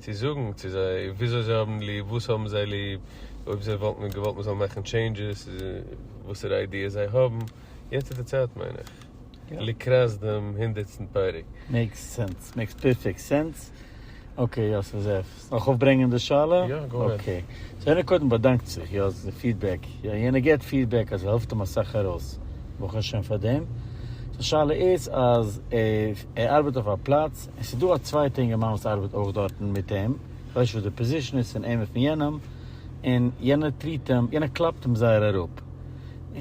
צו זאגן צו זיי וויאזוי זיי האבן ליב, וואס האבן זיי ליב, אויב זיי וואלטן געוואלט מען זאל מאכן טשעינדזשעס, וואסערע איידיעס זיי האבן, יעצט איז די צייט מיין איך, לקראת דעם הונדערטסטן פרק. מעיקס סענס, מעיקס פערפעקט סענס, אקעי יאסל זאב, נאך אויפברענגען די שאלה? יא גאו העד. אקעי, סאו יענער קודם באדאנקט זיך יא אז די פידבעק, יא יענער געט פידבעק אז ס'העלפט אים אסאך ארויס, ברוך השם פאר דעם, סאו שאלה איז אז ער ארבעט אויף א פלאץ, עס איז דא א צווייטע אינגערמאן וואס ארבעט אויך דארטן מיט אים, איך ווייס נישט וואס די פאזישן איז פון אים און פון יענעם, און יענער טריט אים, יענער קלאפט אים זייער אראפ,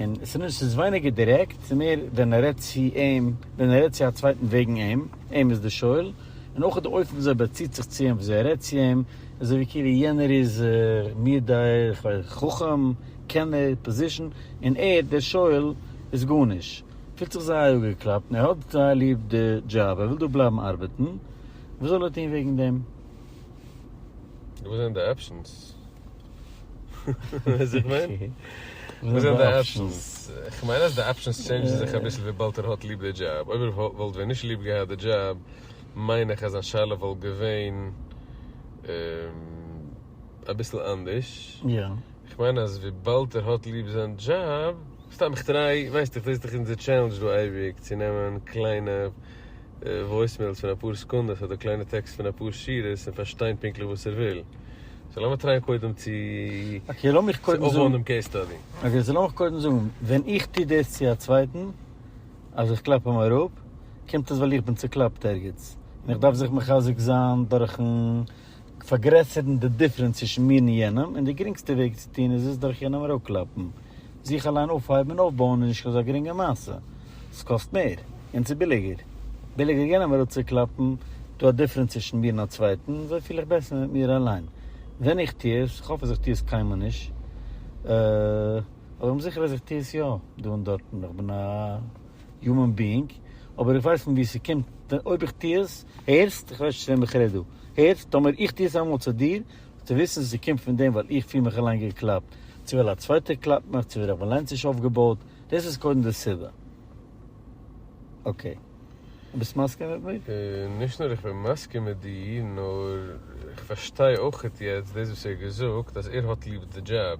און עס איז ווייניגער דירעקט, עס איז מער ווען ער רעדט צו אים, ווען ער רעדט צו א צווייטן וועגן אים, אים איז די שואל, און אויך די אופן וויאזוי ער באציט זיך צו אים, וויאזוי ער רעדט צו אים, אזוי ווי כאילו יענער איז מיר דער חכם, קענער, פאזישן, און ער, דער שואל, איז גארנישט. פילט זיך זייער אפגעקלאפט און ער האט זייער ליב די דזשאב, ער וויל דא בלייבן ארבעטן, וואס זאל ער טון וועגן דעם? וואס זענען די אפשענס? ווייסט וואס איך מיין? וואס זענען די אפשענס? כ'מיין אז די אפשענס טשעינדזשן זיך אביסל וויבאלד ער האט ליב די דזשאב, אויב ער וואלט ווען נישט ליב געהאט די דזשאב מיין איך אז זיין שאלה וואלט געווען. אביסל אנדערש, איך מיין אז וויבאלד ער האט ליב זיין דזשאב, סתם איך טריי, ווייסט איך דאס איז דאך אונזער טשעלענדזש דא אייביג צו נעמען קליינע וואויסמעילס פון אפאר סעקונדעס אדער קליינע טעקסט פון אפאר שורות און פארשטיין פונקטליך וואס ער וויל, סאו לאמיר טרייען קודם צו אויפבויען דעם קעיס סטאדי. אקעי סאו לאמיך קודם זאגן, ווען איך טו דאס צו א צווייטן אז איך קלאפ אים אראפ, קומט עס ווייל איך בין צוקלאפט ערגעץ און איך דארף זיך מחזק זיין דורכן פארגרעסערן די דיפרענץ צווישן מיר און יענעם, און די גרינגסטע וועג צו טון איז עס דורך יענעם אראפקלאפן. זיך אליין אויפהייבן און אויפבויען איז נישט אזא גרינגע מעשה. ס'קאסט מער. און ס'איז ביליגער. ביליגער יענעם אראפצוקלאפן. דא א דיפרענץ צווישן מיר און א צווייטן, אזוי פיל איך בעסער מיט מיר אליין. ווען איך טו עס, כ'האף אז איך טו עס קיינמאל נישט, אבער כ'בין זיכער אז איך טו עס יא, דא און דארטן, איך בין א. יומען ביאינג, אבער איך ווייס פון ווי ס'קומט ווען אויב איך טוה עס, הערסט? איך ווייס נישט צו וועם איך רעד דא, הערסט? טאמער איך טוה עס איינמאל צו דיר, זאלסטו וויסן ס'קומט פון דעם ווייל איך פיל מיך אליין געקלאפט, צו ווייל א צווייטער קלאפט מיך, צו ווייל איך בין אליין צוש אויפגעבויט, דאס איז קודם די סיבה. אקעי. דו ביסט מסכים מיט מיר? נישט נאר איך בין מסכים מיט דיר, נאר איך פארשטיי אויכעט יעצט דאס וואס ער האט געזאגט אז ער האט ליב די דזשאב,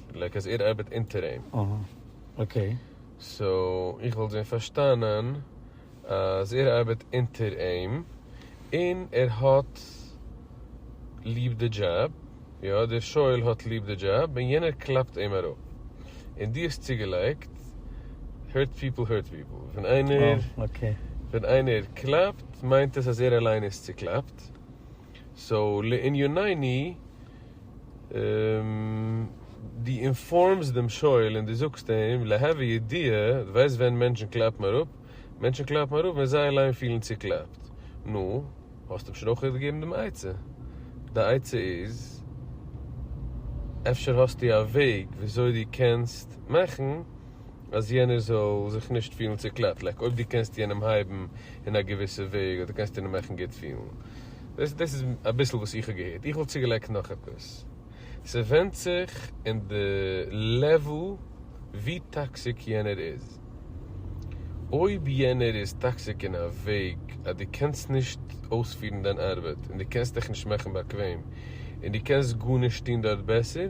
לייק אז ער ארבעט אונטער אים. אהא. אקעי. סאו איך וואלט ווען פארשטאנען אז ער ארבעט אונטער אים און ער האט ליב די דזשאב, יא דער שואל האט ליב די דזשאב און יענער קלאפט אים אראפ און דו האסט צוגעלייגט hurt people hurt people ווען איינער ווען איינער קלאפט מיינט עס אז ער אליין איז צוקלאפט. סאו לענינינו, דו אינפארמסט דעם שואל און דו זאגסט אים להווי ידיעה, דו ווייסט ווען מענטשן קלאפן אראפ? מענטשן קלאפן אראפ ווען זיי אליין פילן צוקלאפט. נו, האסט אים שוין אויך געגעבן דעם עצה. די עצה איז, אפשר האסטו א וועג וויאזוי דו קענסט מאכן אז יענער זאל זיך נישט פילן צוקלעפט, לייק אויב דו קענסט יענעם הייבן אין א געוויסע וועג אדער קענסט יענעם מאכן גוט פילן, דאס דאס איז אביסל וואס איך האב געהערט, איך וואלט צוגעלייגט נאך עפעס, ס'ווענדט זיך אין די לעוועל ווי טאקסיק יענער איז, אויב יענער איז טאקסיק אין א וועג אז דו קענסט נישט אויספירן דיין ארבעט און דו קענסט דיך נישט מאכן באקוועם און דו קענסט גארנישט טון דארט בעסער,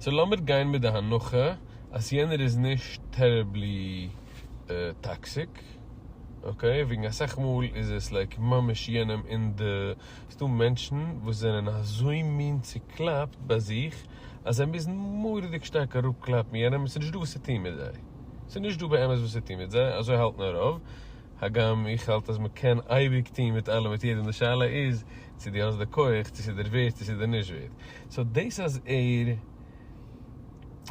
סאו לאמיר גיין מיט די הנחה אז יענער איז נישט טעריבלי טאקסיק, אקעי, וועגן אסאך מאל איז עס לייק ממש יענעם אין די, ס'דא מענטשן וואס זענען אזוי מין צוקלאפט ביי זיך אז זיי מוזן מורא'דיג שטארק אראפקלאפן יענעם, ס'נישט דא וואס צו טון מיט זיי, ס'נישט דא באמת וואס צו טון מיט זיי, אזוי האלטן רוב, הגם איך האלט אז מ'קען אייביג טון מיט אלעם מיט יעדעם, די שאלה איז. צו דו האסט די כח, צו ס'איז דיר ווערד, צו ס'איז דיר נישט ווערד. סאו דאס אז ער.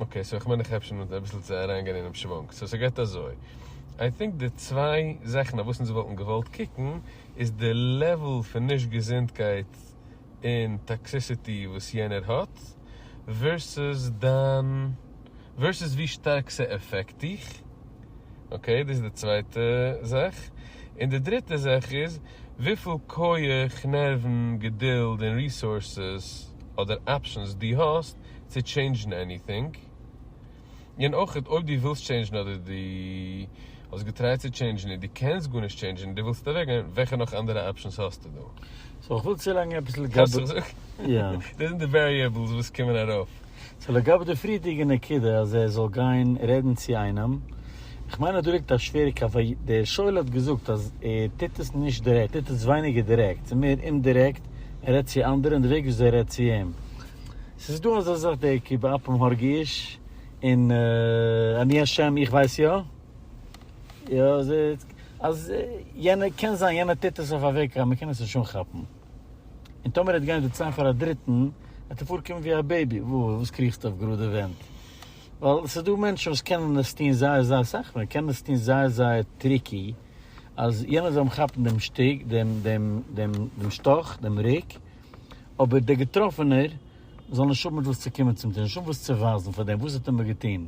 אקעי, סאו כ'מיין איך אפשר נאר אביסל צו אריינגיין אינעם שוואונג. סאו ס'גייט אזוי, איי טינק די צוויי זאכן אויף וואס אונז וואלטן געוואלט קוקן, איז די לעוול פון נישט געזונטקייט און טאקסיסיטי וואס יענער האט, ווערסוס דיין. ווערסוס ווי שטארק ס'עפעקט דיך, אקעי דאס איז די צווייטע זאך, און די דריטע זאך איז וויפיל כח, נערוון, געדולד און ריסארסעס אדער אפשענס דו האסט צו טשעינדזשן עניטינג, און אויך אויב דו ווילסט טשעינדזשן אדער דו האסט געטרייט צו טשעינדזשן און דו קענסט גארנישט טשעינדזשן און דו ווילסט אוועקגיין, וועלכע נאך אנדערע אפשענס האסטו דא? סאו איך וויל צולייגן עפעס לגבי. האסט זיך געזאגט? יא. דאס זענען די וועריעבלס וואס קומען ארויף. סאו לגבי די פריערדיגע נקודה אז ער זאל גיין רעדן צו איינעם, איך מיין אז דא ליגט א שווערע קו ווייל דער שואל האט געזאגט אז ער טוט עס נישט דירעקט, ער טוט עס ווייניגער דירעקט, ס'איז מער אומדירעקט, ער רעדט צו אנדערע און די וועג וויאזוי ער רעדט צו אים. ס'איז דא אזא זאך דער כי באפם הרגי איש און אני השם איך ווייס יא אז יענער קען זיין יענער טוט עס אויף א וועג אז מ'קען עס נישט אנכאפן. און טאמער ער וועט גיין זיצען פאר א דריטען וועט ער פארקומען ווי א בעיבי, וואו וואס קריכסטו אויף גראדע ווענט? ווייל עס איז דא מענטשען וואס קענען עס טוהן זייער זייער אסאך, מען קען עס טוהן זייער זייער טריקי, אז יענער זאל אים כאפען דעם שטיק, דעם דעם דעם דעם שטאך, דעם ריק, אבער דער געטראפענער זאל נישט האבען מיט וואס צו קומען צום טיר, נישט האבען וואס צו ווייזען פאר דעם וואס האט עמער געטוהן.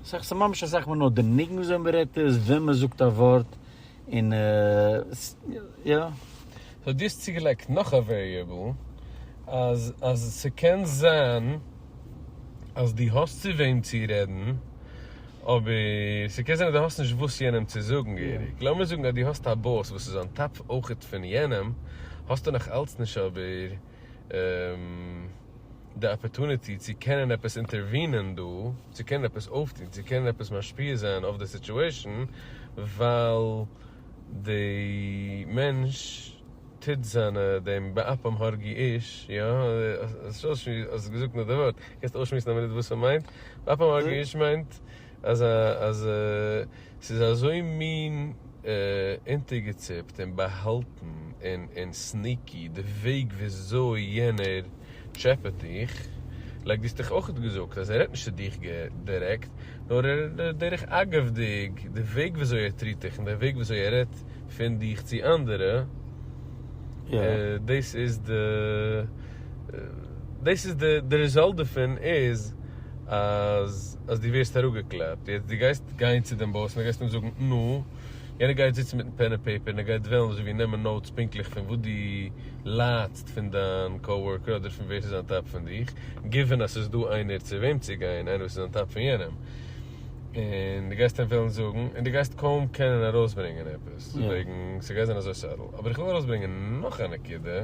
ס'איז ממש אסאך מער נאר דער ניגון וואס ווען מען רעדט עס, ווען מען זאגט א ווארט, און יא. סאו דו האסט צוגעלייגט נאך א וועריעבל אז אז ס'קען זיין אז דו האסט צו וועם צו רעדן אבער ס'קען זיין אז דו האסט נישט וואס יענעם צו זאגן געהעריג, לאמיר זאגן אז דו האסט א באס וואס איז אן טאפ אויך פון יענעם, האסטו נאך אלץ נישט אבער. די אפערטוניטי צו קענען עפעס אינטערווינען דא, צו קענען עפעס אויפטון, צו קענען עפעס משפיע זיין אויף די סיטועשן, ווייל די מענטש טוט זיינע דעם באפם הרגי איש, יא, האסט געזאגט נאר די ווארט, קענסט אויסשמועסן א מינוט וואס ס'מיינט? באפם הרגי איש מיינט. אז אז ס'איז אזוי מין אונטערגעציפט און באהאלטן און און סניקי די וועג וויאזוי יענער טשעפעט דיך, לייק דו האסט דאך אויך געזאגט אז ער רעדט נישט צו דיך דירעקט, נאר ער רעדט דרך אגב'דיג, די וועג וויאזוי ער טריט דיך און די וועג וויאזוי ער רעדט פון דיך צו אנדערע, דאס איז די. דאס איז די די ריזאלט דערפון איז אז אז דו ווערסט אראפגעקלעבט יעצט דו גייסט גיין צו דעם באס און גייסט אים זאגן נו יענער גייט זיצן מיטן פען און פעיפער און ער גייט וועלן אזוי ווי נעמען נאוטס פונקטליך פון וואס דו ליידסט פון דיין קאו-ווארקער אדער פון ווער ס'איז אן טאפ פון דיך גיווען אז ס'איז דא איינער צו וועם צו גיין איינער וואס איז אן טאפ פון יענעם און דו גייסט אים וועלן זאגן און דו גייסט קוים קענען ארויסברענגען עפעס וועגן ס'גייט זיין אזוי סאטל אבער איך וויל ארויסברענגען נאך א נקודה.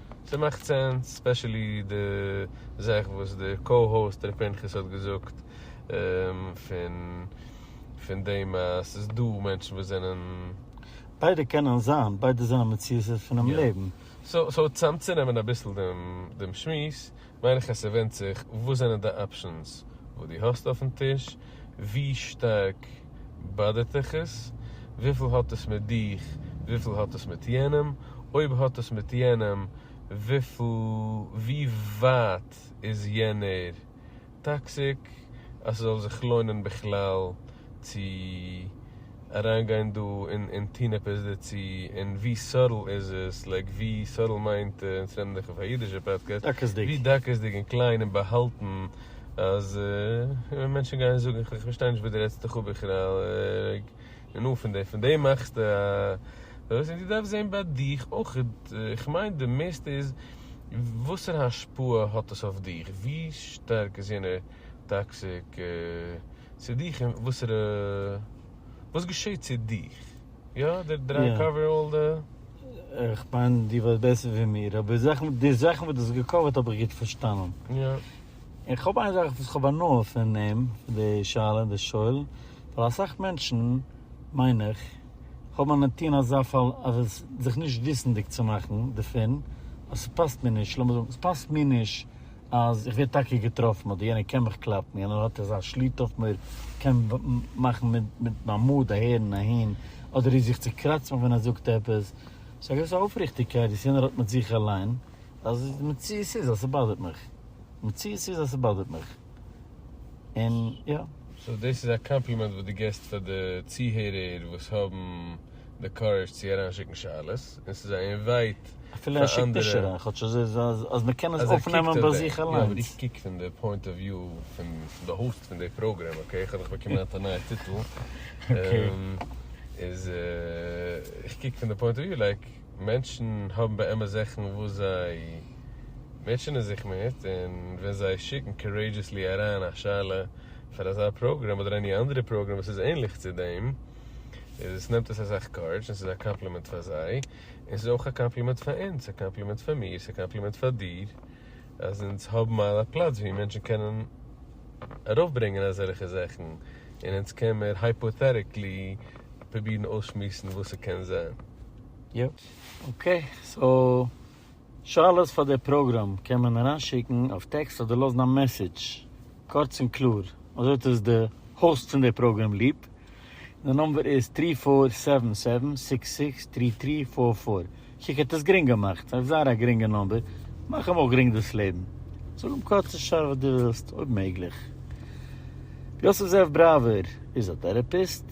ס'מאכט סענס, ספעשעלי די זאך וואס די קאו-האוסט ר' פנחס האט געזאגט פון פון דעם אז ס'איז דא מענטשן וואס זענען. ביידע קענען זיין, ביידע זענען מציאות'ער פונעם לעבן. סאו צאמצונעמען אביסל דעם שמועס, מיין איך אז ס'ווענדט זיך וואס זענען די אפשענס וואס דו האסט אויפן טיש, ווי שטארק באדערט דיך עס, וויפיל האט עס מיט דיך, וויפיל האט עס מיט יענעם, אויב האט עס מיט יענעם, ווי ווייט איז יענער טאקסיק אז ס'זאל זיך לוינען בכלל, צו אריין גיין דא און און טון עפעס דערצו און ווי סארל איז עס לייק ווי סארל מיינט אונז נעמען דיך אויף א אידישע פאדקעסט ווי דקות'דיג און קליין און באהאלטן אז און מענטשן גייען זאגן איך פארשטיי נישט וואס דו רעדסט דיך אפ בכלל און נו פון דעם פון דעם מאכסטו א וואס און דו דארפסט זעהן ביי דיך אויך איך מיין די מערסטע איז וואסערע השפעה האט עס אויף דיך ווי שטארק איז יענער טאקסיק צו דיך און וואסערע וואס געשעט צו דיך יא די דריי קאווער אלל די. איך מיין דו ווייסט בעסער ווי מיר אבער זאכן די זאכן וואס דו האסט געקאווערט האב איך גוט פארשטאנען און כ'האב איין זאך וואס כ'האב הנאה פון אים פון די שאלה און די שואל ווייל אסאך מענטשן מיין איך האבן א נטי' אין אזא פאל אז עס זיך נישט וויסנדיג צו מאכן דערפון אז ס'פאסט מיר נישט לאמיר זאגן ס'פאסט מיר נישט אז איך ווער טאקע געטראפן אדער יענער קען מיך קלאפן, יענער האט אזא שליטה אויף מיר, קען מאכן מיט מיין מאד אהער און אהין, אדער איז זיך צו קראצט מיך ווען ער זאגט עפעס, ס'איז א געוויסע אויפריכטיגקייט וואס יענער האט מיט זיך אליין, אז די מציאות איז אז ס'באדערט מיך, די מציאות איז אז ס'באדערט מיך, און יא. סאו דאס איז א קאמפלימענט וואס דו געסט פאר די צוהערער וואס האבן די קארעזש צו אריינשיקן שאלות. און ס'איז זייער ווייט אפילו ער שיקט נישט אריין כאטש אז אז מ'קען עס אויפנעמען ביי זיך אליינס. יא אבער איך קוק פון די פוינט אוו וויו פון די האוסט פון די פראגרעם אקעי איך האב דאך באקומען אט א נייע טיטל איז איך קוק פון די פוינט אוו וויו לייק מענטשן האבן באמת זאכן וואס זיי מוטשענען זיך מיט און ווען זיי שיקן קארעידזשעסלי אריין א שאלה פאר אזא פראגרעם אדער עני אנדערע פראגרעם וואס איז ענליך צו דעם איז עס נעמט עס אסאך קארעדזש און ס'איז א קאמפלימענט פאר זיי, און ס'איז אויך א קאמפלימענט פאר אונז, א קאמפלימענט פאר מיר, ס'איז א קאמפלימענט פאר דיר, אז אונז האבן א פלאץ ווי מענטשן קענען ארויפברענגען אזעלכע זאכן, און אונז קען מיר הייפאטעטיקלי פרובירן אויסשמועסן וואס ס'קען זיין. יאפ, אקעי, סאו. שאלות פאר די פראגראם קען מען אריינשיקן אויף טעקסט אדער לאזן א מעסעדזש, קורץ און קלאר, אזוי האט עס די האוסט פון די פראגראם ליב, און די נומבער איז טרי פאר סעווען סעווען סיקס סיקס טרי טרי פאר פאר, קוק האט עס גרינג געמאכט, אויף זייער א גרינגע נומבער, מאך אים אויך גרינג דאס לעבן, זאג אים קורץ און שארף וואס דו ווילסט, אויב מעגליך. יוסף זאב בראווער איז א טערעפיסט.